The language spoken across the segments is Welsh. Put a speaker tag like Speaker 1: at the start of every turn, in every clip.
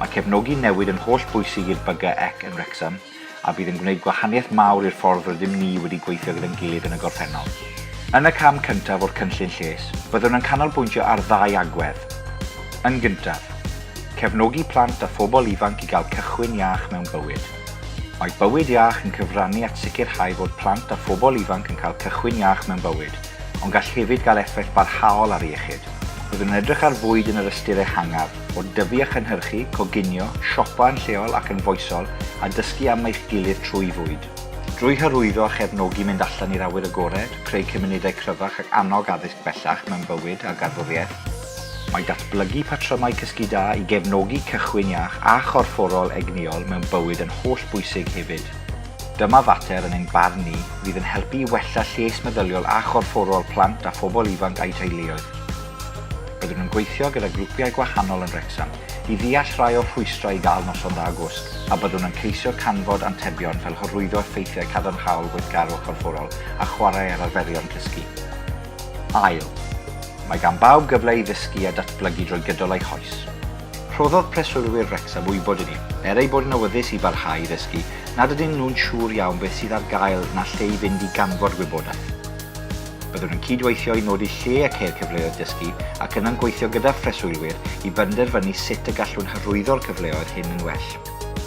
Speaker 1: Mae cefnogi newid yn holl bwysig i'r BGEC yn Wrecsam a bydd yn gwneud gwahaniaeth mawr i'r ffordd rydym ni wedi gweithio gyda'n gilydd yn y gorffennol. Yn y cam cyntaf o'r cynllun lles, byddwn yn canolbwyntio ar ddau agwedd. Yn gyntaf, cefnogi plant a phobl ifanc i gael cychwyn iach mewn bywyd. Mae Bywyd Iach yn cyfrannu at sicrhau fod plant a phobl ifanc yn cael cychwyn iach mewn bywyd. ond gall hefyd gael effaith barhaol ar iechyd. Byddwn yn edrych ar fwyd yn yr ystyr ehangaf, o dyfu a chynhyrchu, coginio, siopa yn lleol ac yn foesol, a dysgu am eich gilydd trwy fwyd. Drwy hyrwyddo a chefnogi mynd allan i'r awyr agored, creu cymunedau cryfach ac annog addysg bellach mewn bywyd a garddwriaeth, mae datblygu patrymau cysgu da i gefnogi cychwyn iach a chorfforol egnïol mewn bywyd yn hollbwysig hefyd. Dyma fater, yn ein barn ni, fydd yn helpu i wella lles meddyliol a chorfforol plant a phobl ifanc a'u teuluoedd. Byddwn yn gweithio gyda grwpiau gwahanol yn Wrecsam i ddeall rhai o'r rhwystrau i gael noson dda gwsg a byddwn yn ceisio canfod antebion fel hyrwyddo effeithiau cadarnhaol gweithgarwch corfforol a chwarae ar arferion cysgu. Ail. Mae gan bawb gyfle i ddysgu a datblygu drwy gydol eu hoes. Rhoddodd preswylwyr Wrecsam wybod i ni, er eu bod yn awyddus i barhau i ddysgu, nad ydyn nhw'n siŵr iawn beth sydd ar gael na lle i fynd i ganfod gwybodaeth. Byddwn yn cyd-weithio i nodi lle a ceir cyfleoedd dysgu ac yna'n gweithio gyda phreswylwyr i benderfynu sut y gallwn hyrwyddo'r cyfleoedd hyn yn well.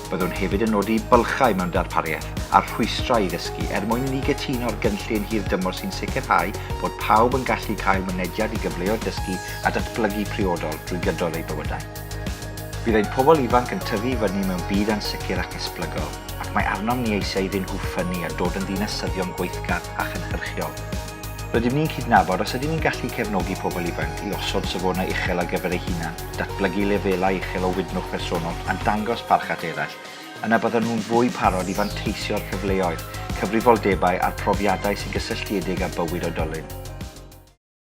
Speaker 1: Byddwn hefyd yn nodi bylchau mewn darpariaeth a rhwystrau i ddysgu er mwyn i ni gytuno'r gynllun hir dymor sy'n sicrhau bod pawb yn gallu cael mynediad i gyfleoedd dysgu a datblygu priodol drwy gydol eu bywydau. Bydd ein pobl ifanc yn tyfu i fyny mewn byd ansicr ac esblygol, ac mae arnom ni eisiau iddyn nhw ffynnu a dod yn ddinasyddion gweithgar a chynhyrchiol. Rydym ni'n cydnabod os ydym ni'n gallu cefnogi pobl ifanc i osod safonau uchel ar gyfer eu hunain, datblygu lefelau uchel o wydnwch personol a dangos barch at eraill, yna byddan nhw'n fwy parod i fanteisio'r cyfleoedd, cyfrifoldebau a'r profiadau sy'n gysylltiedig â bywyd oedolyn.